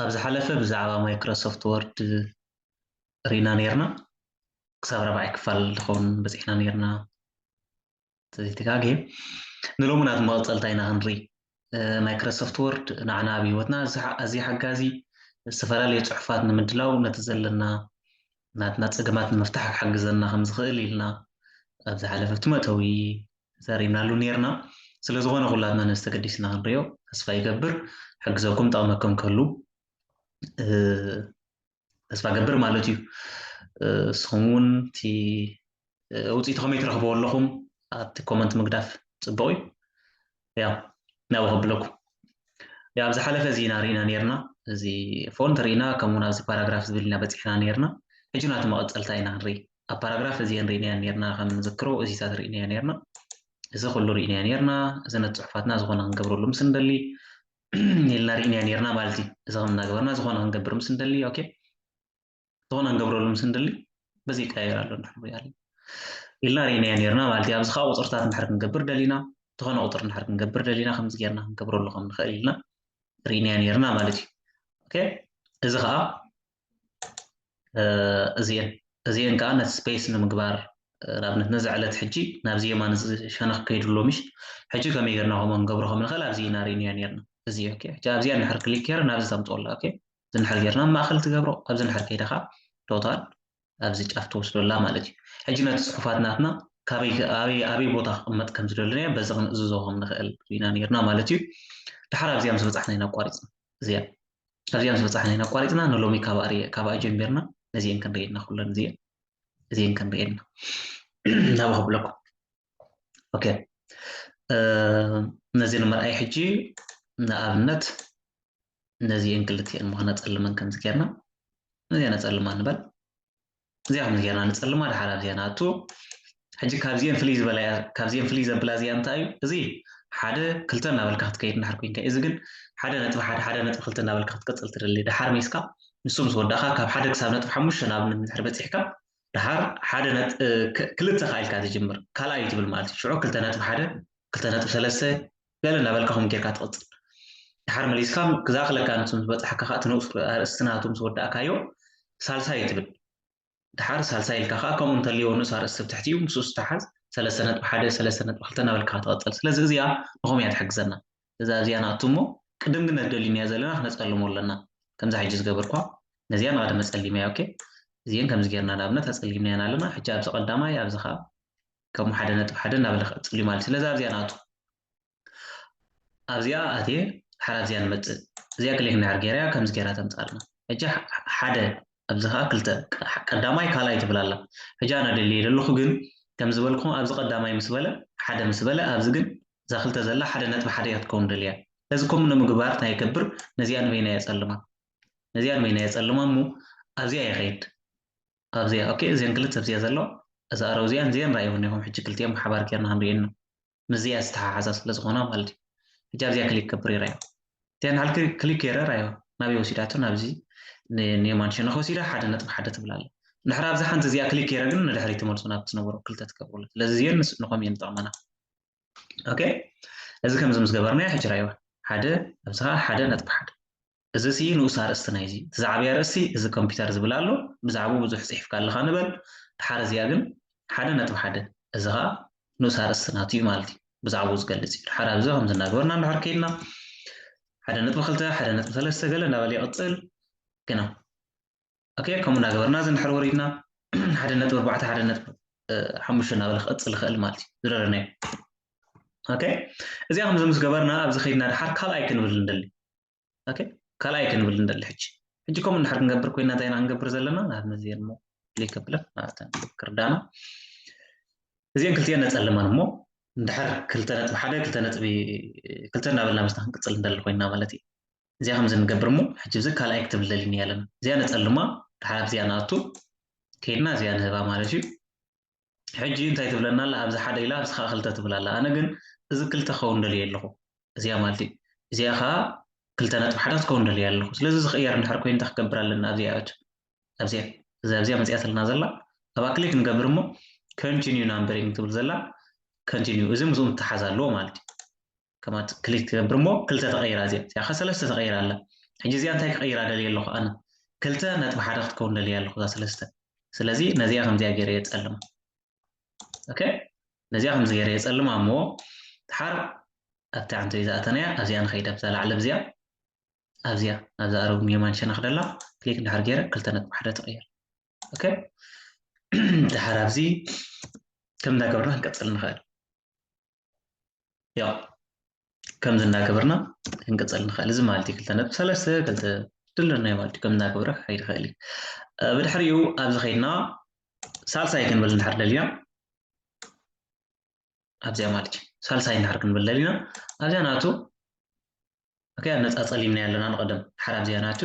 ኣብ ዝሓለፈ ብዛዕባ ማይክሮሶፍት ወርድ ሪና ነርና ክሳብ ራብዓይ ክፋል ድኸውን በጺሕና ነርና ተዘይተጋግየ ንሎሚ ናት መቐጸልታ ኢና ክንርኢ ማይክሮሶፍት ወርድ ንዓና ኣብ ህይወትና ኣዝዩ ሓጋዚ ዝተፈላለዩ ጽሑፋት ንምድላው ነቲ ዘለና ናትና ጸገማት ንምፍታሕ ክሕግዘና ከም ዝኽእል ኢልና ኣብ ዝሓለፈ'ቲ መእተዊ ተዛሪብናሉ ኔርና። ስለ ዝኾነ ኩላትና ነዚ ተገዲስና ክንሪኦ ተስፋ ይገብር። ሕግዘኩም ጠቕመኩም ክህሉ ተስፋ እገብር ማለት እዩ። ንስኹም እውን እቲ ውፅኢቱ ከመይ ትረኽብዎ ኣለኹም ኣብቲ ኮመንት ምግዳፍ ፅቡቕ እዩ ያው ናብ ከብለኩ ያው ኣብ ዝሓለፈ እዚ ኢና ርኢና ነርና እዚ ፎንት ርኢና ከምኡ ናብዚ ፓራግራፍ ዝብል ኢና በፂሕና ነርና ሕጂ ናቲ መቐፀልታ ኢና ንርኢ ኣብ ፓራግራፍ እዚአን ርኢናያ ነርና ከም ንዝክሮ እዚታት ርኢናያ ነርና እዚ ኩሉ ርኢናያ ነርና እዚ ነቲ ፅሑፋትና ዝኾነ ክንገብረሉ ምስ ንደሊ ኢልና ርኢናያ ነርና ማለት እዩ እዚ ከም እናገበርና ዝኾነ ክንገብር ምስ ንደሊ ኦኬ ዝኾነ ንገብረሉ ምስ ንደሊ በዚ ይቀያየር ኣሎ ንድሕር ንሪኦ ኣለና ኢልና ርኢናዮ ነርና ማለት እዩ ኣብዚ ከዓ ቁፅርታት እንድሕር ክንገብር ደሊና ዝኾነ ቁፅሪ እንድሕር ክንገብር ደሊና ከምዚ ጌርና ክንገብረሉ ከም ንኽእል ኢልና ርኢናዮ ነርና ማለት እዩ ኦኬ እዚ ከዓ እዚአን እዚአን ከዓ ነቲ ስፔስ ንምግባር ንኣብነት ነዚ ዕለት ሕጂ ናብዚ የማን እዚ ሸነኽ ከይዱ ኣሎ ምሽ ሕጂ ከመይ ጌርና ከምኡ ንገብሮ ከም ንኽእል ኣብዚ ኢና ርኢናዮ ነርና እዚ ኦኬ ሕጂ ኣብዚኣ እንድሕር ክሊክ ጌረ ናብዚ ተምፅኦ ኣላ ኦኬ ዝንሕር ጌርና ኣብ ማእከል ትገብሮ ኣብ ዝንሕር ከይዳ ከኣ ቶታል ኣብዚ ጫፍ ትወስዶ ኣላ ማለት እዩ ሕጂ ነቲ ጽሑፋት ናትና ካበይ ኣበይ ኣበይ ቦታ ክቕመጥ ከም ዝደለናዮ በዚ ክንእዝዞ ከም ንኽእል ርኢና ኔርና ማለት እዩ ድሓር ኣብዚኣ ምስ በጻሕና ኢና ኣቋሪጽና እዚኣ ኣብዚኣ ምስ በጻሕና ኢና ኣቋሪጽና ንሎሚ ካብኣ ካብኣ ጀሚርና ነዚኤን ክንርእየና ኩለን እዚኤን እዚኤን ክንርእየና ናብኡ ክብለኩም ኦኬ ነዚ ንምርኣይ ሕጂ ንኣብነት ነዚኤን ክልቲኤን እሞ ከነጸልመን ከምዚ ጌርና ነዚኣ ነጸልማ ንበል እዚኣ ከምዚ ጌርና ንጸልማ ድሓር ኣብዚኣ ንኣቱ ሕጂ ካብዚኤን ፍልይ ዝበላ እያ ካብዚኤን ፍልይ ዘብላ እዚኣ እንታይ እዩ እዚ ሓደ ክልተ እናበልካ ክትከይድ እንድሓር ኮንካ እዚ ግን ሓደ ነጥቢ ሓደ ሓደ ነጥቢ ክልተ እናበልካ ክትቅጽል ትደሊ ድሓር መይስካ ንሱ ምስ ወዳእካ ካብ ሓደ ክሳብ ነጥቢ ሓሙሽተ ናብ ንድሕር በጺሕካ ድሓር ሓደ ክልተ ከኣልካ ትጅምር ካልኣይ ትብል ማለት እዩ ሽዑ ክልተ ነጥቢ ሓደ ክልተ ነጥቢ ሰለስተ ገለ እናበልካ ከምኡ ጌርካ ትቕጽል። ደሓር መሊስካ ክዛኽለካ ንሱ ምስ በጻሓካ ከኣ እቲ ንኡስ ኣርእስቲ ናቱ ምስ ወዳእካዮ ሳልሳይ ትብል። ደሓር ሳልሳይ ኢልካ ከኣ ከምኡ እንተልዎ ንኡስ ኣርእስቲ ኣብ ትሕቲኡ ምስኡ ዝተሓዝ ሰለስተ ነጥቢ ሓደ፣ ሰለስተ ነጥቢ ክልተ እናበልካ ኢኻ ትቕጽል። ስለዚ እዚኣ ንኸምኡ እያ ትሕግዘና። እዛ እዚኣ ንኣቱ እሞ ቅድም ግን ነቲ ደሊናዮ ዘለና ክነጸልሞ ኣለና። ከምዛ ሕጂ ዝገበርክዋ ነዚኣ ንቐደመ ጸሊመያ ኦኬ። እዚኤን ከምዚ ጌርና ንኣብነት ኣጸሊምናየን ኣለና። ሕጂ ኣብዚ ቀዳማይ ኣብዚ ከኣ ከም ሓደ ነጥቢ ሓደ እናበለ ክቕጽል እዩ ማለት እዩ። ስለዚ ኣብዚኣ ንኣቱ። ኣብዚኣ ኣትየ ድሓር ኣብዚኣ ንመጽእ። እዚኣ ክሊክ እንድሕር ገይረያ ከምዚ ገይራ ተምጽኣልና። ሕጂ ሓደ ኣብዚ ከኣ ክልተ ቀዳማይ ካልኣይ ትብል ኣላ። ሕጂ ኣነ ደልየ ዘለኹ ግን ከም ዝበልኩኹም ኣብዚ ቀዳማይ ምስ በለ ሓደ ምስ በለ ኣብዚ ግን እዛ ክልተ ዘላ ሓደ ነጥቢ ሓደ እያ ክትከውን ደልያ። ስለዚ ከምኡ ንምግባር እንታይ ይገብር ነዚኣ ንበይና የጸልማ ነዚኣ ንበይና የጸልማ እሞ ኣብዚኣ ይኸይድ። ኣብዚኣ ኦኬ እዘን ክልተ ኣብዚኣ ዘሎ እዛ ኣረው እዚኣን እዚኣን ራእይወን ኢኹም ሕጂ ክልቲኦም ብሓባር ጌርና ክንሪኤን ኢና ምስዚኣ ዝተሓሓዛ ስለ ዝኾና ማለት እዩ ሕጂ ኣብዚኣ ክሊክ ከብር ይራዮ እቲኣ ንዓል ክሊክ ገይረ ራዮ ናበይ ወሲዳቶ ናብዚ ንየማን ሸነኽ ወሲዳ ሓደ ነጥቢ ሓደ ትብል ኣለ ንድሕር ኣብዛ ሓንቲ እዚኣ ክሊክ ገይረ ግን ንድሕሪ ትመልሶ ናብ ትነበሮ ክልተ ትገብርሉ ስለዚ እዚኦን ንኸም እየን ዝጠቕመና ኦኬ እዚ ከምዚ ምስ ገበርናዮ ሕጂ ራይዋ ሓደ ኣብዚ ከዓ ሓደ ነጥቢ ሓደ እዚ ሲ ንኡስ ኣርእስቲ ናይዚ እቲ ዝዓበየ ኣርእስቲ እዚ ኮምፒተር ዝብል ኣሎ ብዛዕብኡ ብዙሕ ጽሒፍካ ኣለኻ ንበል ድሓር እዚኣ ግን ሓደ ነጥቢ ሓደ እዚ ኸኣ ንኡስ ኣርእስቲ ናቱ እዩ ማለት እዩ ብዛዕብኡ ዝገልጽ እዩ ድሓር ኣብዚ ከምዚ እናገበርና እንድሕር ከይድና ሓደ ነጥቢ ክልተ ሓደ ነጥቢ ሰለስተ ገለ እንዳበለ ይቕጽል ግና ኦኬ ከምኡ እናገበርና እዚ ንድሕር ወሪድና ሓደ ነጥቢ ኣርባዕተ ሓደ ነጥቢ ሓሙሽተ እናበለ ክቕፅል ይኽእል ማለት እዩ ዝረረናዮ ኦኬ እዚኣ ከምዚ ምስ ገበርና ኣብዚ ከይድና ድሓር ካልኣይ ክንብል ንደሊ ኦኬ ካልኣይ ክንብል ንደሊ ሕጂ ሕጂ ከምኡ እንድሕር ክንገብር ኮይና እንታይ ኢና ክንገብር ዘለና ንኣብነት እዚአን እሞ ክሊክ ኣብለን ኣብተን ክርዳና እዚአን ክልቲአን ነፀልመን እሞ እንድሕር ክልተ ነጥቢ ሓደ ክልተ ነጥቢ ክልተ እናበልና ምስና ክንቅፅል ንደሊ ኮይና ማለት እዩ እዚኣ ከምዚ ንገብር እሞ ሕጂ ብዚ ካልኣይ ክትብል ደሊኒ እያ ኣለና እዚኣ ነጸልማ ድሓር ኣብዚኣ ንኣቱ ከይድና እዚኣ ንህባ ማለት እዩ ሕጂ እንታይ ትብለና ኣላ ኣብዚ ሓደ ኢላ ኣብዚ ከዓ ክልተ ትብል ኣላ ኣነ ግን እዚ ክልተ ክኸውን ደልየ ኣለኹ እዚኣ ማለት እዩ እዚኣ ከዓ ክልተ ነጥቢ ሓደ ክትከውን ደልየ ኣለኹ ስለዚ ዝኽእየር እንድሕር ኮይኑ እንታይ ክገብር ኣለና ኣብዚኣ እት ኣብዚኣ እዚ ኣብዚኣ መፅያትልና ዘላ ኣብኣ ክሊክ ንገብር እሞ ኮንቲኒዩ ናምበሪንግ ትብል ዘላ ኮንቲኒዩ እዚ ምስኡ ምትሓዝ ኣለዎ ማለት እዩ ከማት ክሊክ ትገብር እሞ ክልተ ተቐይራ እዚኣ እዚኣ ከ ሰለስተ ተቐይራ ኣላ ሕጂ እዚኣ እንታይ ክቐይራ ደልየ ኣለኹ ኣነ ክልተ ነጥቢ ሓደ ክትከውን ደልየ ኣለኹ እዛ ሰለስተ ስለዚ ነዚኣ ከምዚኣ ገይረ የፀልማ ኦኬ ነዚኣ ከምዚ ገይረ የፀልማ እሞ ድሓር ኣብቲ ዓንተ ዝኣተናያ ኣብዚኣ ንኸይድ ኣብዛ ላዕሊ ኣብዚኣ ኣብዚኣ ኣብዛ ኣረብ ኒዮማን ሸነኽ ደላ ክሊክ ድሓር ገይረ ክልተ ነጥቢ ሓደ ተቐይር ኦኬ ድሓር ኣብዚ ከም እንዳገበርና ክንቀፅል ንኽእል ያው ከምዚ እናገበርና ክንቅፅል ንኽእል እዚ ማለት እዩ ክልተ ነጥቢ ሰለስተ ክልተ ድለናዮ ማለት እዩ ከም እናገበረ ክኸይድ ይኽእል እዩ ብድሕሪኡ ኣብዚ ከይድና ሳልሳይ ክንብል እንድሕር ደሊና ኣብዚኣ ማለት እዩ ሳልሳይ እንድሕር ክንብል ደሊና ኣብዚኣ ናቱ ኦኬ ኣነፃፀሊምና ኣለና ንቐደም ሓር ኣብዚኣ ናቱ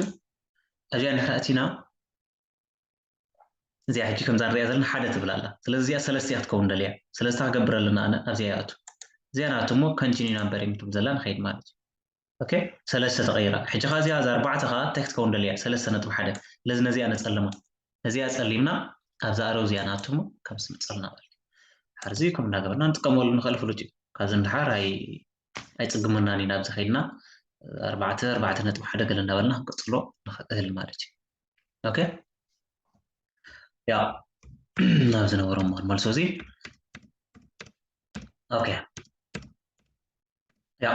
ኣብዚኣ እንድሕር ኣቲና እዚኣ ሕጂ ከምዛ ንሪኣ ዘለና ሓደ ትብል ኣላ ስለዚ እዚኣ ሰለስተ እያ ክትከውን ደልያ ስለዚ እታ ክገብር ኣለና ኣነ ኣብዚኣ ይኣቱ እዚኣ ናቱ እሞ ከንቲኒ ናምበር እየ ትብል ዘላ ንኸይድ ማለት እዩ ኦኬ ሰለስተ ተቐይራ ሕጂ ኸ እዚኣ እዛ ኣርባዕተ ከዓ እንታይ ክትከውን ደልያ ሰለስተ ነጥቢ ሓደ ስለዚ ነዚኣ ነፀልማ ነዚኣ ፀሊምና ኣብዛ ኣረው እዚኣ ናቱ እሞ ካብዚ ንፀልና በል ሓርዚ ከም እንዳገበርና ንጥቀመሉ ንኽእል ፍሉጥ እዩ ካብዚ ንድሓር ኣይ ኣይፅግመናን ኢና ኣብዚ ከይድና ኣርባዕተ ኣርባዕተ ነጥቢ ሓደ ገለ እንዳበልና ክንቅፅሎ ንኽእል ማለት እዩ ኦኬ ያ ናብ ዝነበሮ እሞ መልሶ እዚ ኦኬ ያ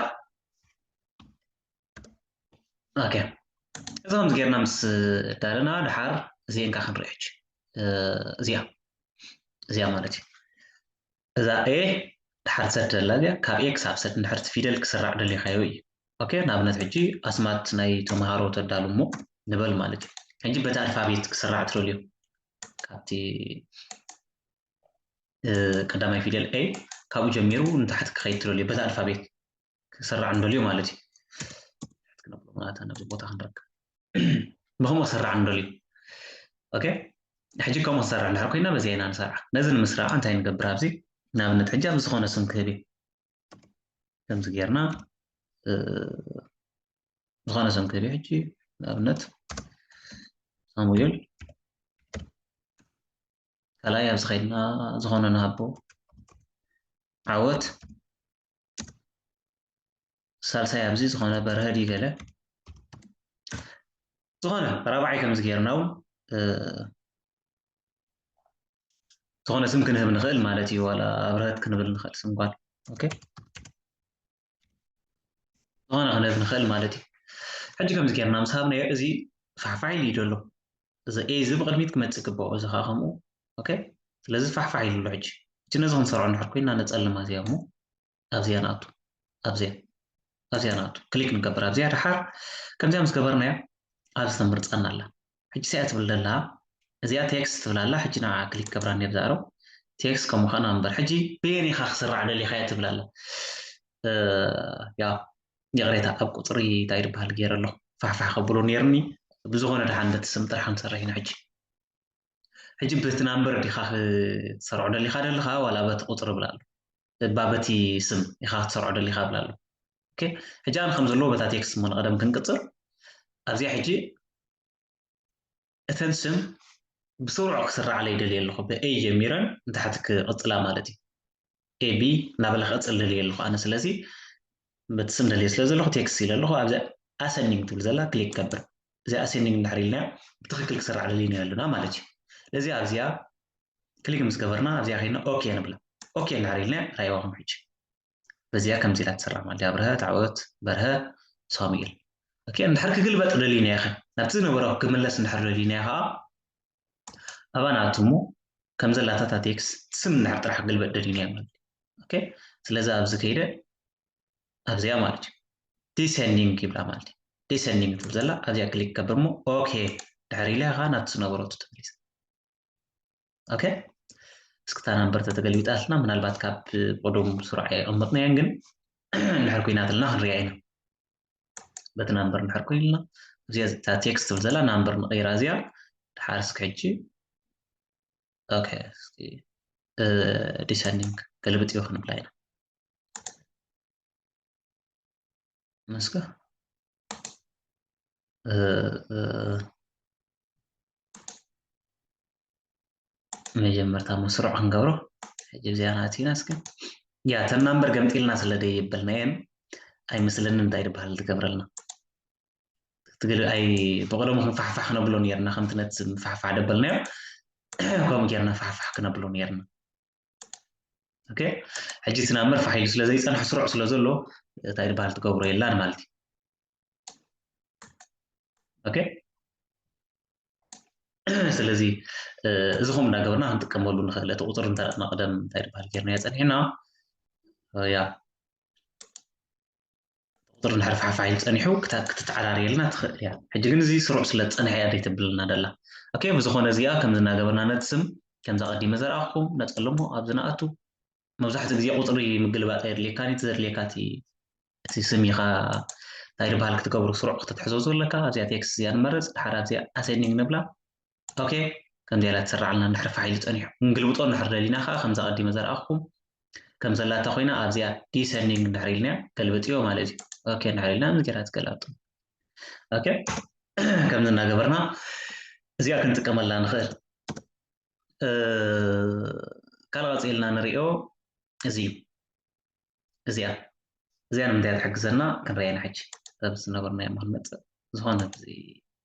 ኦኬ እዚ ከምዚ ጌርና ምስ ዳለና ድሓር እዚኤን ከዓ ክንሪኦ ሕጂ እዚኣ እዚኣ ማለት እዩ እዛ a ድሓር ሰት ዘላ እዚኣ ካብ a ክሳብ ሰት እንድሕር እቲ ፊደል ክስራዕ ደሊኻዮ እዩ ኦኬ ንኣብነት ሕጂ ኣስማት ናይ ተምሃሮ ተዳሉ እሞ ንበል ማለት እዩ ሕጂ በቲ ኣልፋቤት ክስራዕ ትደልዮ ካብቲ ቀዳማይ ፊደል a ካብኡ ጀሚሩ ንታሕቲ ክኸይድ ትደልዮ በቲ ኣልፋቤት ክስራዕ ንደልዮ ማለት እዩ ክነብሎ ማለት ነዚ ቦታ ክንረክብ ብከምኡ ክስራዕ ንደልዩ ኦኬ ሕጂ ከምኡ ክሰርዕ እንድሕር ኮይና በዚ ኢና ንሰርዓ ነዚ ንምስራዕ እንታይ ንገብር ኣብዚ ንኣብነት ሕጂ ኣብ ዝኾነ ስም ክህብ እዩ ከምዚ ጌርና ዝኾነ ስም ክህብ እዩ ሕጂ ንኣብነት ሳሙኤል ካልኣይ ኣብዚ ከይድና ዝኾነ ንሃቦ ዓወት ሳልሳይ ኣብዚ ዝኾነ በርሀ ድዩ ገለ ዝኾነ ራብዓይ ከምዚ ጌርና እውን ዝኾነ ስም ክንህብ ንኽእል ማለት እዩ ዋላ ኣብርሀት ክንብል ንኽእል ስም ጓል ኦኬ ዝኾነ ክንህብ ንኽእል ማለት እዩ ሕጂ ከምዚ ጌርና ምስ ሃብናዮ እዚ ፋሕፋሕ ኢሉ እዩ ዘሎ እዚ A እዚ ብቕድሚት ክመጽእ ይግበኦ እዚ ከኣ ከምኡ ኦኬ ስለዚ ፋሕፋሕ ኢሉ ኣሎ ሕጂ እቲ ነዚ ክንሰርዖ እንድሕር ኮይና ነጸልማ እዚኣ እሞ ኣብዚኣ ንኣቱ ኣብዚኣ ኣብዚኣ ንኣቱ ክሊክ ንገብር ኣብዚኣ ድሓር ከምዚኣ ምስ ገበርናያ ኣብዚ ተምርጸና ኣላ ሕጂ ሲኣ ትብል ደላ እዚኣ ቴክስት ትብል ኣላ ሕጂ ንዓ ክሊክ ገብራ ነብ ዝኣረው ቴክስት ከም ምዃና እምበር ሕጂ በየን ኢኻ ክስራዕ ደሊኻያ ትብል ኣላ ያ ይቕሬታ ኣብ ቁጽሪ ታይ ድበሃል ጌረ ኣለኹ ፋሕፋሕ ከብሎ ኔርኒ ብዝኾነ ድሓን በቲ ስም ጥራሕ ክንሰርሕ ኢና ሕጂ ሕጂ በቲ ናምበር ዲኻ ክትሰርዖ ደሊኻ ደልኻ ዋላ በቲ ቁጽሪ ብላ ኣሎ እባ በቲ ስም ኢኻ ክትሰርዖ ደሊኻ ብላ ኣሎ ኦኬ ሕጂ ኣነ ከም ዘለዎ በታ ቴክስት እሞ ንቐደም ክንቅጽል ኣብዚኣ ሕጂ እተን ስም ብስሩዕ ክስርዓለይ ይደልየ ኣለኹ። ብ A ጀሚረን ንታሕቲ ክቕጽላ ማለት እዩ። A B እናበለ ክቕጽል ደልየ ኣለኹ ኣነ። ስለዚ በቲ ስም ደልየ ስለ ዘለኹ ቴክስት ኢለ ኣለኹ። ኣብዚኣ ኣሰንዲንግ ትብል ዘላ ክሊክ ከብር። እዚኣ ኣሰንዲንግ እንድሕር ኢልናያ ብትኽክል ክስርዓለይ ኢና ኣለና ማለት እዩ። ስለዚ ኣብዚኣ ክሊክ ምስ ገበርና ኣብዚኣ ዄይንና ኦኬ ንብላ። ኦኬ እንድሕር ኢልናያ ረኣይዋኹም ሕጂ። በዚኣ ከምዚ ኢላ ትስራዕ ማዲ ኣብርሀ ተዕወት በርሀ ሳሙኤል ኦኬ እንድሕር ክግልበጥ ደሊና ኢኺ ናብቲ ዝነበረ ክምለስ እንድሕር ደሊና ኢኻ ኣብኣ ንኣቱ እሞ ከም ዘላታ እታ ቴክስ ስም እንድሕር ጥራሕ ክግልበጥ ደሊና ማለት እዩ ኦኬ ስለዚ ኣብዚ ከይደ ኣብዚኣ ማለት እዩ ዲሰንዲንግ ይብላ ማለት እዩ ዲሰንዲንግ ትብል ዘላ ኣብዚኣ ክሊክ ከብር እሞ ኦኬ ድሕር ኢለ ኢኻ ናብቲ ዝነበረቱ ተመሊሰ ኦኬ እስኪ እታ ናምበር ተተገልቢጣትና ምናልባት ካብ ቅዱም ስሩዕ ኣይቐመጥናዮን ግን እንድሕር ኩናትልና ክንሪኣ ኢና በቲ ናምበር እንድሕር ኮይንልና እዚኣ እታ ቴክስት ትብል ዘላ ናምበር ንቐይራ እዚኣ ድሓር እስኪ ሕጂ ኦኬ እስኪ ዲሰንዲንግ ገልብጥ እዩ ክንብላ ኢና መስከ መጀመርታ መስርዕ ክንገብሮ ሕጂ እዚኣ ናቲና እስኪ ያ ተን ናምበር ገምጢልና ስለ ደይበልናየን ኣይመስለኒ እንታይ ዝበሃል ትገብረልና ትግል ኣይ ብቐደሙ ክንፋሕፋሕ ክነብሎ ነርና ከምቲ ነቲ ምፋሕፋሕ ደበልናዮ ከምኡ ጌርና ፋሕፋሕ ክነብሎ ነርና ኦኬ ሕጂ እቲ ናብ መርፋሕ ኢሉ ስለ ዘይጸንሐ ስሩዕ ስለ ዘሎ እንታይ ዝበሃል ትገብሮ የላን ማለት እዩ ኦኬ ስለዚ እዚ ከምኡ እንዳገበርና ክንጥቀመሉ ንኽእል እቲ ቁፅሪ እንተ መቕደም እንታይ ዝበሃል ጌርናዮ ፀኒሕና ያ ቁጽሪ እንድሕር ፋሕፋሕ ኢሉ ጸኒሑ ክታብ ክትተዓራርየልና ትኽእል እያ። ሕጂ ግን እዚ ስሩዕ ስለ ዝጸንሐ እያ ደይ ተብለና ዘላ። ኦኬ ብዝኾነ እዚኣ ከምዚ እናገበርና ነቲ ስም ከምዚ ኣቐዲመ ዘርኣኹኩም ነጸልሞ ኣብዚ ንኣቱ። መብዛሕትኡ ግዜ ቁጽሪ ምግልባጥ ኣየድልየካን እዩ እቲ ዘድልየካ እቲ እቲ ስም ኢኻ እንታይ ድበሃል ክትገብሮ ስሩዕ ከተትሕዞ ዘለካ። ኣብዚኣ ቴክስት እዚኣ ንመርጽ ድሓር ኣብዚኣ ኣሴንዲንግ ንብላ። ኦኬ ከምዚኣ ኢላ ትስራዓልና እንድሕር ፋሕ ኢሉ ጸኒሑ ክንግልብጦ እንድሕር ደሊና ከኣ ከምዛ ቀዲመ ዘርኣኹኩም ከም ዘላታ ኮይና ኣብዚኣ ዲሰንዲንግ እንድሕር ኢልናያ ገልብጥዮ ማለት እዩ ኦኬ እንድሕር ኢልና ምስ ጌራ ትገላብጦ ኦኬ ከምዚ እናገበርና እዚኣ ክንጥቀመላ ንኽእል ካልእ ቀፂልና ንሪኦ እዚ እዩ እዚኣ እዚኣ ንምንታይ እያ ትሕግዘና ክንሪኣ ኢና ሕጂ እዛ ዝነበርናዮ እሞ ክንመፅእ ዝኾነት እዚ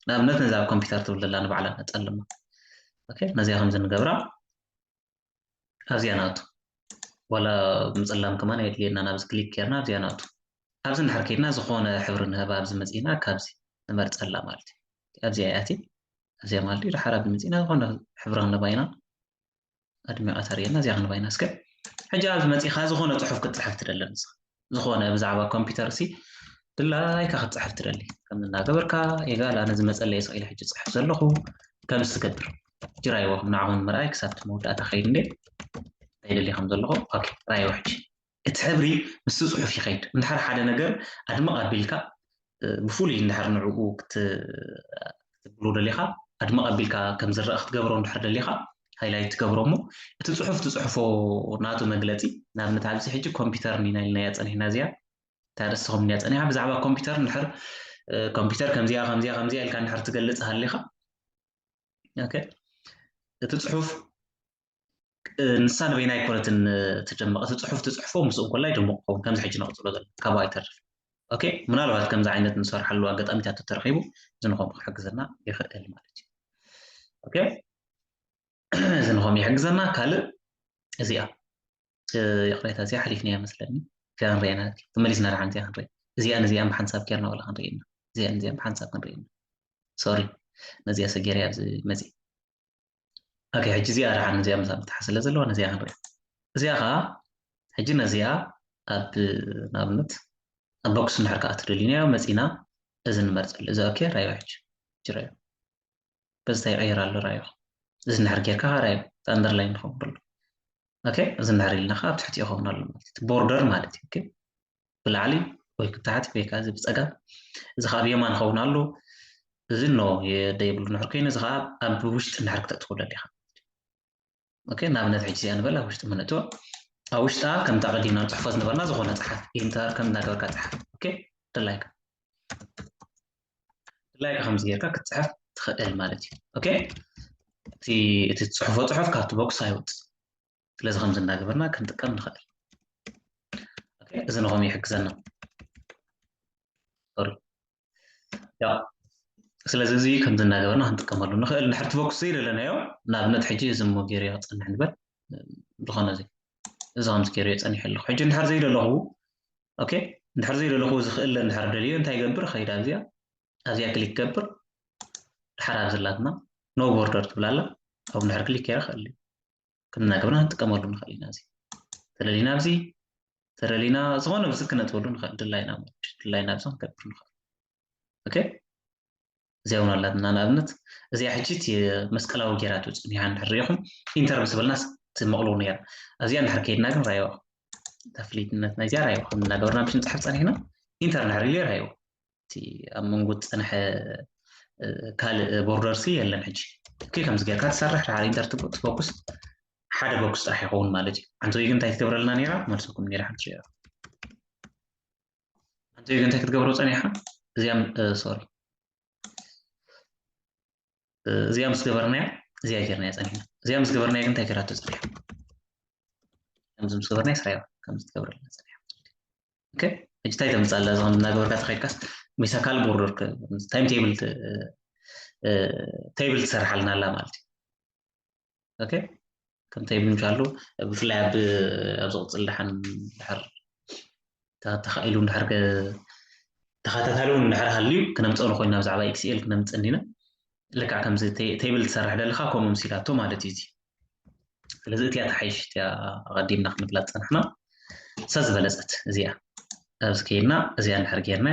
ንኣብነት ነዛ ኣብ ኮምፒውተር ትብል ዘላ ንባዕላ ነፀልማ ኦኬ ነዚኣ ከምዚ ንገብራ ኣብዚኣ ናቱ ዋላ ምፅላም ከማን የድልየና ናብዚ ክሊክ ጌርና ኣብዚኣ ናቱ ኣብዚ ንድሕር ከይድና ዝኾነ ሕብሪ ንህባ ኣብዚ መፂና ካብዚ ንመርፀላ ማለት እዩ ኣብዚኣ እያ እቲ ኣብዚኣ ማለት እዩ ድሓር ኣብዚ መፂና ዝኾነ ሕብሪ ክንህባ ኢና ኣድሚቃ ተርእየና እዚኣ ክንባይና እስከ ሕጂ ኣብዚ መጺኻ ዝኾነ ጽሑፍ ክትጽሕፍ ትደሊ ንስኻ ዝኾነ ብዛዕባ ኮምፒውተር ሲ ድላይካ ክትጽሕፍ ትደሊ ከም እናገበርካ የጋል ኣነ ዝመጸለየ ስቕ ኢለ ሕጂ ጽሕፍ ዘለኹ ከምዚ ትገብር ጅራይዎ ንዓኹም ምርኣይ ክሳብ መወዳእታ ከይድ እንዴ እንታይ ደሊ ከም ዘለኹ ኦኬ ራይዎ ሕጂ እቲ ሕብሪ ምስቲ ጽሑፍ ይኸይድ። እንድሕር ሓደ ነገር ኣድምቕ ኣቢልካ ብፍሉይ እንድሕር ንዕኡ ክትብሎ ደሊኻ ኣድምቕ ኣቢልካ ከም ዝረኣ ክትገብሮ እንድሕር ደሊኻ ሃይላይት ትገብሮ እሞ እቲ ጽሑፍ ትጽሕፎ ናቱ መግለጺ ንኣብነት ኣብዚ ሕጂ ኮምፒተርን ኢና ኢልናያ ጸኒሕና እዚኣ እታ ርእሲ ከም እንያ ጸኒሓ ብዛዕባ ኮምፒተር እንድሕር ኮምፒተር ከምዚኣ ከምዚኣ ከምዚኣ ኢልካ እንድሕር ትገልጽ ሃሊኻ ኦኬ እቲ ጽሑፍ ንሳ ንበይና ኣይኮነትን ትደምቕ እቲ ፅሑፍ ትፅሕፎ ምስ እንኮላ ይደምቕ ክኸውን ከምዚ ሕጂ ነቕፅሎ ዘሎ ካብኡ ኣይተርፍ ኦኬ ምናልባት ከምዚ ዓይነት ንሰርሓሉ ኣጋጣሚታት ተተረኺቡ እዚ ንኸምኡ ክሕግዘና ይኽእል ማለት እዩ ኦኬ እዚ ንኸምኡ ይሕግዘና ካልእ እዚኣ ይቕሬታ እዚኣ ሓሊፍናያ መስለኒ እዚኣ ክንሪኣ ኢና ተመሊስና ድሓን እዚኣ ክንርኢ እዚኣን እዚኣን ብሓንሳብ ኬርና ወላ ክንርኢ ኢና እዚኣን እዚኣን ብሓንሳብ ክንርኢ ኢና ሶሪ ነዚኣ ሰጌርያ ኣብዚ መፅእ ኦኬ ሕጂ እዚኣ ድሓን እዚኣ ምሳ ክትሓ ስለ ዘለዋ ነዚኣ ክንርኢ እዚኣ ከዓ ሕጂ ነዚኣ ኣብ ንኣብነት ኣብ ቦክስ እንድሕር ከዓ ትደልዩናዮ መፂና እዚ ንመርፀሉ እዚ ኦኬ ራዮ ሕጂ ሕጂ ራዮ በዚ እንታይ ይቀይር ኣሎ ራዮ እዚ እንድሕር ጌርካ ከዓ ራዮ እቲ ኣንደርላይን ይኸውን ኣሎ ኦኬ እዚ እንድሕር ኢልና ከዓ ኣብ ትሕቲ ይኸውን ኣሎ ማለት እዩ ቦርደር ማለት እዩ ኦኬ ብላዕሊ ወይ ክታሕት ወይ ከዚ ብጸጋም እዚ ከኣ ብየማን ይኸውን ኣሎ እዚ ኖ የደ ይብሉ ንሕር ኮይኑ እዚ ከኣ ኣብ ውሽጢ ንሕር ክተእትዎ ደሊኻ ኦኬ ንኣብነት ሕጂ እዚኣ ንበል ኣብ ውሽጢ ምነእትዎ ኣብ ውሽጣ ከምቲ ኣቐዲምና ንፅሕፎ ዝነበርና ዝኾነ ፀሓፍ ኢንተር ከም እናገበርካ ፀሓፍ ኦኬ ድላይካ ድላይካ ከምዚ ጌርካ ክትፅሕፍ ትኽእል ማለት እዩ ኦኬ እቲ እቲ ፅሑፎ ፅሑፍ ካብቲ ቦክስ ኣይወፅእ ስለዚ ከምዚ እንዳገበርና ክንጥቀም ንኽእል እዚ ንኸም ይሕግዘና ሶሪ ያ ስለዚ እዚ ከምዚ እንዳገበርና ክንጥቀመሉ ንኽእል ንድሕርቲ ፎክስ ዘይደለናዮ ንኣብነት ሕጂ እዚ እሞ ገይረ ክፀንሕ ንበል ዝኾነ እዚ እዚ ከምዚ ገይረ ፀኒሐ ኣለኹ ሕጂ እንድሕር ዘይደለኹ ኦኬ እንድሕር ዘይደለኹ እዚ ክእለ እንድሕር ደልዮ እንታይ ይገብር ከይድ ኣብዚያ ኣብዚያ ክሊክ ገብር ድሓር ኣብ ዘላትና ኖ ቦርደር ትብላ ኣላ ኣብ እንድሕር ክሊክ ገይረ ክእል እዩ ክንነግብና ክንጥቀመሉ ንኽእል ኢና እዚ ተደሊና ኣብዚ ተደሊና ዝኾነ ብዚ ክነጥበሉ ንኽእል ድላይና ድላይና ብዚ ክንገብር ንኽእል ኦኬ እዚኣ እውን ኣላትና ንኣብነት እዚኣ ሕጂ እቲ መስቀላዊ ጌራቱ ፅኒሓ እንድሕር ሪኢኹም ኢንተር ምስ በልና ትመቕልዎ ነይራ ኣብዚኣ እንድሕር ከይድና ግን ራይዋ ተፍሊትነት ናይዚኣ ራይዋ ከም እናገበርና ብሽ ንፅሓፍ ፀኒሕና ኢንተር እንድሕር ኢሉ ራይዋ እቲ ኣብ መንጎ ዝፀንሐ ካልእ ቦርደርሲ የለን ሕጂ እኪ ከምዚ ጌርካ ትሰርሕ ድሓር ኢንተር ትፎኩስ ሓደ ቦክስ ጥራሕ ይኸውን ማለት እዩ ሓንቲ ወይ ግን እንታይ ትገብረልና ነራ መልሰኩም ነራ ሓንቲ ሸ ሓንቲ ወይ ግን እንታይ ክትገብሮ ፀኒሓ እዚኣም ሶሪ እዚኣ ምስ ገበርናያ እዚኣ ጌርናያ ፀኒሕና እዚኣ ምስ ገበርናያ ግን እንታይ ገራቶ ፀኒሓ ከምዚ ምስ ገበርናያ ስራያ ከምዚ ትገብረልና ፀኒሓ ኦኬ ሕጂ እንታይ ተምፅእ ኣላ እዚ ከምዚ እናገበርካ ተኸድካስ ምስ ኣካል ቦርዶር ታይም ቴብል ቴብል ትሰርሓልና ኣላ ማለት እዩ ኦኬ ከም ቴብል ምሻሉ ብፍላይ ኣብ ኣብ ዝቕፅል ድሓን ድሕር ተኻኢሉ ድሕር ተኸታታሊ እውን ድሕር ሃልዩ ክነምፅኦ ንኮይና ብዛዕባ ኤክስኤል ክነምፅእ እንዲና ልክዕ ከምዚ ቴብል ትሰርሕ ደለኻ ከምኡ ምሲላቶ ማለት እዩ እዚ ስለዚ እቲያ ተሓይሽ እቲያ ኣቐዲምና ክንብላ ዝፀናሕና ሰብ ዝበለፀት እዚኣ ኣብዚ ከይድና እዚኣ እንድሕር ጌርና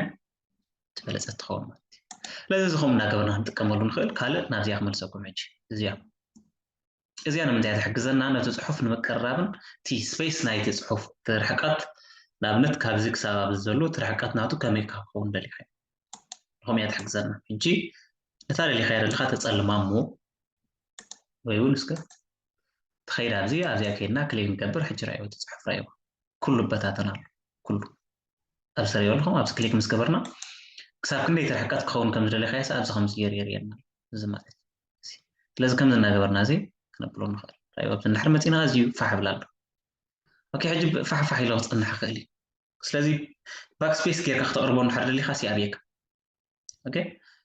ዝበለፀት ትኸውን ማለት እዩ ስለዚ እዚ ከምኡ እናገበርና ክንጥቀመሉ ንኽእል ካልእ ናብዚኣ ክመልሰኩም ሕጂ እዚኣ እዚኣ ንምንታይ እያ ትሕግዘና? ነቲ ጽሑፍ ንምቅርራብን እቲ ስፐይስ ናይቲ ጽሑፍ እቲ ርሕቀት ንኣብነት ካብዚ ክሳብ ኣብዚ ዘሎ እቲ ርሕቀት ናቱ ከመይ እካ ክኸውን ደሊኻዮ ንኸምኡ እያ ትሕግዘና። ሕጂ ነታ ደሊኻያ ደለኻ ተጸልማ እሞ ወይ እውን እስከ ትኸይድ ኣብዚ ኣብዚኣ ከይድና ክሊክ ንገብር ሕጂ ራእይዎ እቲ ጽሑፍ ራእይዎ ኩሉ በታተን ኣሎ ኩሉ ኣብዚ ተርእይዎ ኣለኹም ኣብዚ ክሊክ ምስ ገበርና ክሳብ ክንደይቲ ርሕቀት ክኸውን ከም ዝደለኻዮስ ኣብዚ ከምዚ ገይሩ የርእየና እዚ ማለት እዩ። ስለዚ ከምዚ እናገበርና እዚ ክነብሎ ንኽእል። ራእዩ ኣብዚ እንድሕር መፂና ኣዝዩ ፋሕ ይብል ኣሎ። ኦኬ ሕጂ ፋሕ ፋሕ ኢሉ ክፀንሕ ይኽእል እዩ። ስለዚ ባክ ስፔስ ጌርካ ክተቕርቦ እንድሕር ደሊኻ ሲ ኣብየካ። ኦኬ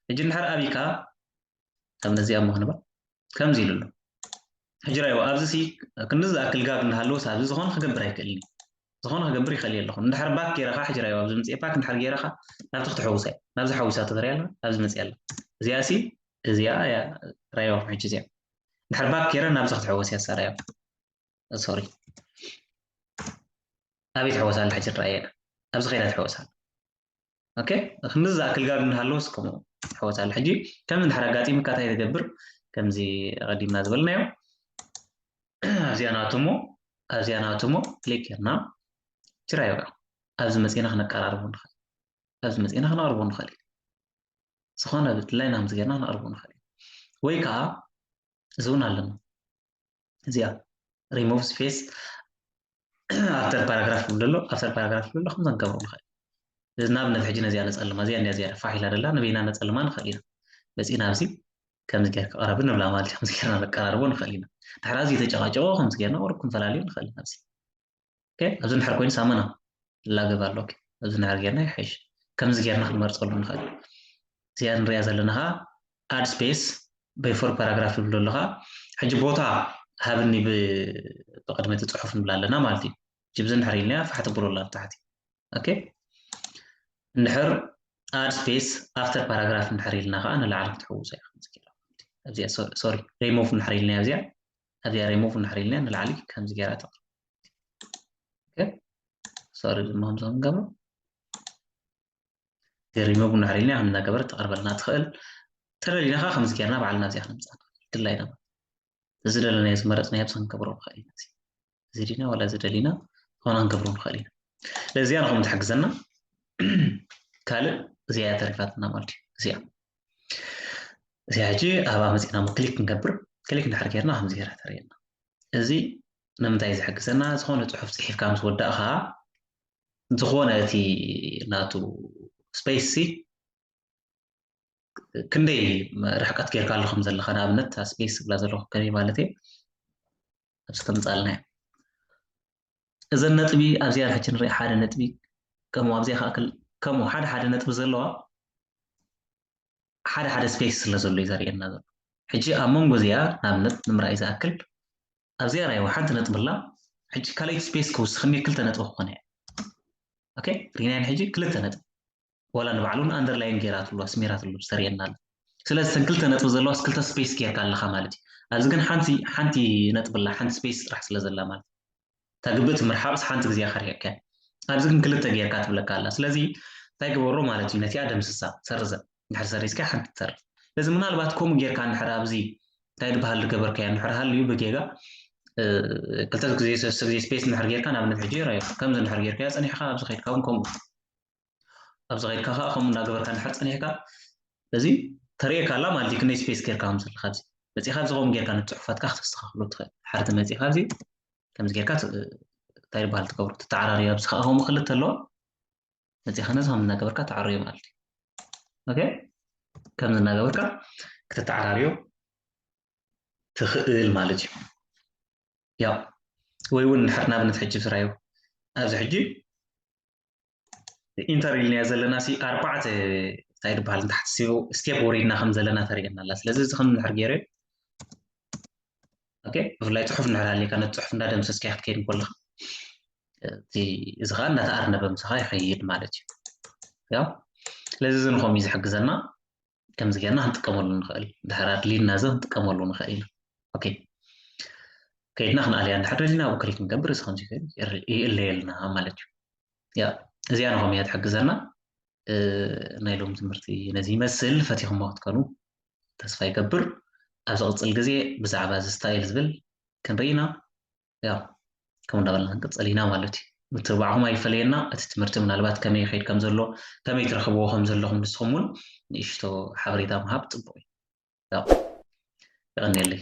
ሕጂ እንድሕር ኣብይካ ከም ነዚኣ እሞ ክንብል ከምዚ ኢሉ ኣሎ። ሕጂ ራይዎ ኣብዚ ሲ ክንዲ ዝኣክል ጋግ እንዳሃለወስ ኣብዚ ዝኾነ ክገብር ኣይክእልን ዝኾነ ክገብር ይኽእል እየ ኣለኹ እንድሕር ባክ ጌረ ከዓ ሕጂ ራይዎ ኣብዚ ምፅኤ ባክ እንድሕር ጌረ ከዓ ናብዚ ክትሕውሳ እያ ናብዚ ሓዊሳ ትሪያ ኣላ ኣብዚ መፅያ ኣላ እዚኣ ሲ እዚኣ እያ ራይዎ ሕጂ እዚኣ እንድሕር ባክ ጌረ ናብዚ ክትሕወስ እያ ሳራዮ ሶሪ ኣበይ ትሕወስ ኣላ ሕጂ ራእየና ኣብዚ ከይዳ ትሕወስ ኣላ ኦኬ ክንዲ ዝኣክል ጋር እንዳሃለወስ ከምኡ ሕወት ኣሎ ሕጂ ከም እንድሕር ኣጋጢሙካ እንታይ ትገብር ከምዚ ቀዲምና ዝበልናዮ ኣብዚኣ ናትሞ ኣብዚኣ ናትሞ ክሊክ ጌርና ችራዮ ኣብዚ መፂና ክነቀራርቦ ንኽእል ኣብዚ መፂና ክነቕርቦ ንኽእል ዝኾነ ብድላይና ከምዚ ጌርና ክነቕርቦ ንኽእል ወይ ከዓ እዚ እውን ኣለና እዚኣ ሪሞቭ ስፔስ ኣፍተር ፓራግራፍ ክብል ኣሎ ኣፍተር ፓራግራፍ ክብል ኣሎ ከምዛ ንገብሮ ንኽእል እዚ ንኣብነት ሕጂ ነዚኣ ነፀልማ እዚኣ እንዲያ ዝያዳ ፋሕ ኢላ ደላ ንበይና ነፀልማ ንኽእል ኢና መፂና ኣብዚ ከምዚ ጌር ክቐረብ ንብላ ማለት እዩ ከምዚ ጌርና ነቀራርቦ ንኽእል ኢና ድሕሪ ኣዝዩ ተጨቃጨቆ ከምዚ ጌርና ወርብ ክንፈላለዩ ንኽእል ኢና ኣብዚ ኣብዚ እንድሕር ኮይኑ ሳሙና ላግብ ኣሎ ኣብዚ እንድሕር ጌርና ይሓይሽ ከምዚ ጌርና ክንመርፀሉ ንኽእል እዚኣ ንሪኣ ዘለና ከዓ ኣድ ስፔስ በይፎር ፓራግራፍ ይብሎ ኣለኻ ሕጂ ቦታ ሃብኒ ብቅድሚ እቲ ፅሑፍ ንብላ ኣለና ማለት እዩ ጅብዚ እንድሕር ኢልናያ ፋሕ ትብሎ ኣላ ታሕቲ ኦኬ እንድሕር ኣድ ስፔስ ኣፍተር ፓራግራፍ እንድሕር ኢልና ከዓ ንላዕሊ ክትሕውሶ እያ ከምዚ ጌርና እዚኣ ሶሪ ሪሞቭ እንድሕር ኢልናያ እዚኣ ኣብዚኣ ሪሙቭ እንድሕር ኢልና ንላዕሊ ከምዚ ገይራ ተቕርብ ሶሪ ድማ ከምዚ ክንገብሮ ሪሙቭ እንድሕር ኢልና ከም እናገበረት ተቕርበልና ትኽእል ተደሊና ከዓ ከምዚ ገይርና ባዕልና ኣብዚኣ ክንምፃእ ንኽእል ድላይና እዚ ደለናዮ ዝመረፅናዮ ብዚ ክንገብሮ ንኽእል ኢና ዝድና ዋላ ዝደሊና ሆና ንገብሮ ንኽእል ኢና ለዚያ ንኹም ትሕግዘና ካልእ እዚኣ እያ ተሪፋትና ማለት እዩ እዚኣ እዚኣ ሕጂ ኣብኣ መፂና ክሊክ ክንገብር ክሊክ እንድሕር ጌርና ከምዚ ጌራ ተርእየና እዚ ንምንታይ ዝሕግዘና ዝኾነ ፅሑፍ ፅሒፍካ ምስ ወዳእኻ ዝኾነ እቲ ናቱ ስፔስ ሲ ክንደይ ርሕቀት ጌርካ ኣሎ ከም ዘለካ ንኣብነት ስፔስ ዝብላ ዘለኹ ከመይ ማለት እዩ ኣብዚ ከምፃልና እዩ እዘን ነጥቢ ኣብዚኣ ሕጂ ንሪኣ ሓደ ነጥቢ ከምኡ ኣብዚኣ ከዓ ከምኡ ሓደ ሓደ ነጥቢ ዘለዋ ሓደ ሓደ ስፔስ ስለ ዘሎ እዩ ዘርእየና ዘሎ ሕጂ ኣብ መንጎ እዚኣ ንኣብነት ንምርኣይ ዝኣክል ኣብዚኣ ራይዋ ሓንቲ ነጥቢ ኣላ ሕጂ ካልኣይቲ ስፔስ ክውስኽኒ ክልተ ነጥቢ ክኾነ እያ ኦኬ ሪናይን ሕጂ ክልተ ነጥቢ ዋላ ንባዕሉ ን ኣንደርላይን ጌራትሉ ኣስሚራትሉ ተርእየና ኣላ ስለዚ እተን ክልተ ነጥቢ ዘለዋስ ክልተ ስፔስ ጌርካ ኣለኻ ማለት እዩ ኣብዚ ግን ሓንቲ ሓንቲ ነጥቢ ኣላ ሓንቲ ስፔስ ጥራሕ ስለ ዘላ ማለት እዩ እታ ግብእቲ ምርሓቕስ ሓንቲ ግዜ ኢኻ ርሒቕካያ ኣብዚ ግን ክልተ ጌርካ ትብለካ ኣላ ስለዚ እንታይ ግበሮ ማለት እዩ ነቲኣ ደምስሳ ሰርዘ እንድሕር ሰሪዝካያ ሓንቲ ትተርፍ ስለዚ ምናልባት ከምኡ ጌርካ እንድሕር ኣብዚ እንታይ ድበሃል ዝገበርካዮ እንድሕር ሃልዩ ብጌጋ ክልተ ግዜ ሰለስተ ግዜ ስፔስ እንድሕር ጌርካ ንኣብነት ሕጂ ራዮ ከምዚ እንድሕር ጌርካዮ ጸኒሕካ ኣብዚ ከድካ እውን ከምኡ ኣብዚ ከድካ ከዓ ከምኡ እንዳገበርካ እንድሕር ፀኒሕካ እዚ ተርእየካ ኣላ ማለት እዩ ክንደይ ስፔስ ጌርካ ከም ዘለካ ኣብዚ መፂእካ ኣብዚ ከምኡ ጌርካ ንፅሑፋትካ ክተስተካክሎ ትኽእል ሓርቲ መፂእካ ኣብዚ ከምዚ ጌርካ እንታይ ይበሃል ትገብሮ ትተዓራርዮ ኣብዚ ከዓ ከምኡ ክልተ ኣለዋ መፂእካ ነዚ ከም እናገበርካ ተዓርዮ ማለት እዩ ኦኬ ከምዚ እናገበርካ ክተተዓራርዮ ትኽእል ማለት እዩ ያው ወይ እውን ንድሕር ናብነት ሕጂ ስራዮ ኣብዚ ሕጂ ኢንተር ኢልናዮ ዘለና ሲ ኣርባዕተ እንታይ ዝበሃል ንታሕቲ ስቴፕ ወሪድና ከም ዘለና ተርእየና ኣላ ስለዚ እዚ ከም ንድሕር ገይረ ኦኬ ብፍላይ ፅሑፍ ንድሕር ሃልየካ ነቲ ፅሑፍ እንዳደምሰስካ ክትከይድ ከለካ እቲ እዚ ከዓ እንዳተኣርነበ ምሳኻ ይኸይድ ማለት እዩ ያው ስለዚ እዚ ንከምኡ እዩ ዝሕግዘና ከምዚ ጌርና ክንጥቀመሉ ንኽእል ድሕር ኣድልዩና እዚ ክንጥቀመሉ ንኽእል ኢና ኦኬ ከይድና ክንኣልያ እንድሕር ደሊና ኣብኡ ክሊክ ንገብር እዚ ከምዚ ኮይኑ ይእለየልና ማለት እዩ ያ እዚኣ ንኸም እያ ትሕግዘና ናይ ሎም ትምህርቲ ነዚ ይመስል ፈቲኹሞ ክትከኑ ተስፋ ይገብር ኣብ ዝቕፅል ግዜ ብዛዕባ እዚ ስታይል ዝብል ክንርኢና ያው ከምኡ እንዳበልና ክንቅፅል ኢና ማለት እዩ ምትብባዕኹም ኣይፈለየና እቲ ትምህርቲ ምናልባት ከመይ ይኸይድ ከም ዘሎ ከመይ ትረኽብዎ ከም ዘለኹም ንስኹም እውን ንእሽቶ ሓበሬታ ምሃብ ፅቡቅ እዩ ያው የቐኒየለይ